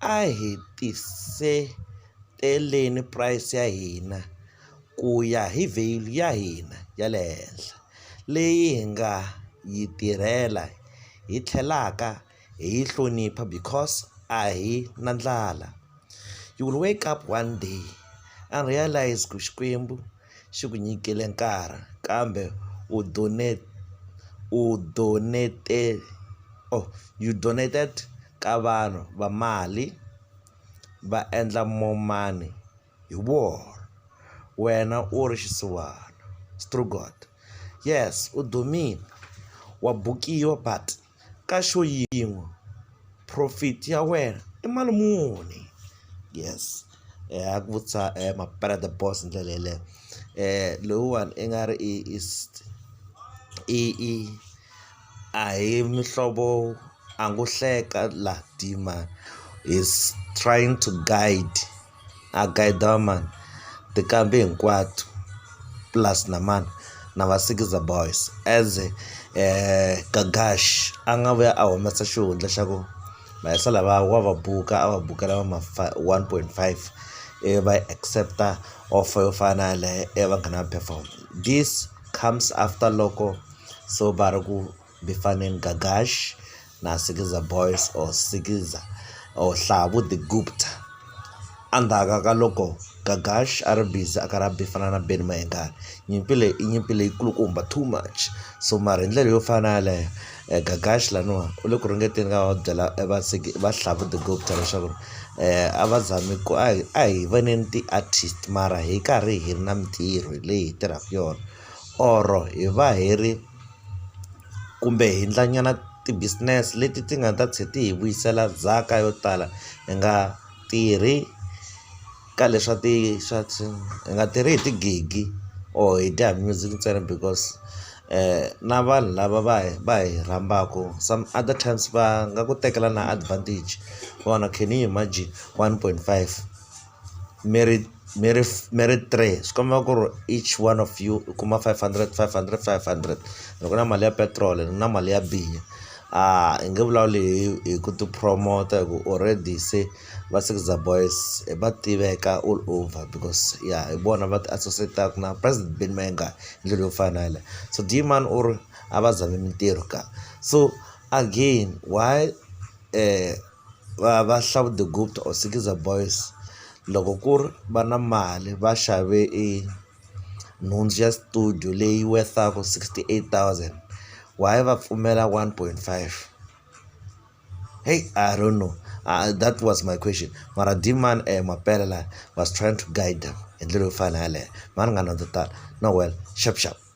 A hi tiseteleni price ya hina ku ya hi value ya hina ya le henhla leyi hi nga yi tirhela hi tlhelaka hi yi hlonipha because a hi na ndlala you will wake up one day and realize ku Xikwembu xi ku nyikile nkarhi kambe u u donate or you donated. ka vanhu va mali va endla more money hi wona wena u ri xisiwana Strugot yes u dumile wa bukiwa but ka show yin'we profit ya wena i mali muni yes a ku vutisa mampela the boss hi ndlela yeleyo lowuwani i nga ri i i i. A hi mihlovo a ngo hleka la dima is trying to guide a guide mani tinqambi hinkwato plus na mani na va sikiza boys as Gagash a nga vuya a humesa xihundla xa ku maheso lava wa va buka a va bukela va ma one point five ivi va accept-a offer yo fana na yaleyo ivi va nghena va perform this comes after loko. So ba re ku bifaneni Gagash na Sikiza Boys or Sikiza or Hlavu the Gupta endzhaku ka loko Gagash a ri busy a karhi a bifana na Benny Mayengani nyimpi leyi i nyimpi leyi kulukumba too much so mara hi ndlela yo fana na yaleyo Gagash laniwa u le ku ringeteni ka va byela va va Hlavu the Gupta leswaku a va zami ku a hi a hi voneni ti-artist mara hi karhi hi ri na mintirho leyi hi tirhaka yona. or-o hi va hi ri kumbe hi endlanyana ti-business leti ti nga ta tlhe ti hi vuyisela ndzhaka yo tala hi nga tirhi ka le swa ti swa swi hi nga tirhi hi tigigi or hi dya music ntsena because na vanhu lava va hi va hi rhambaku some other times va nga ku tekela na advantage vona can you imagine one point five. mi ri mi ri mi ri three swi komba ku ri each one of you u kuma five hundred five hundred five hundred ni ku na mali ya petiroli ni na mali ya biya a hi nge vulavuli hi hi ku ti promoter hi ku already se va Sixza boys va tiveka all over because ya hi vona va ti associate-aka na president Benny Mayengani hi ndlela yo fana na yaleyo so Dee-man u ri a va zami mintirho kaya so again why . va va Hlabudegupta or Sikiza boys loko ku ri va na mali va xave e nhundzu ya studio leyi worth-aku sixty eight thousand why va pfumela one point five heyi I don't know that was my question mara Dmani e mampela laya was trying to guide them hi ndlela yo fana na yaleyo mhani ni nga na to tala no well shap shap.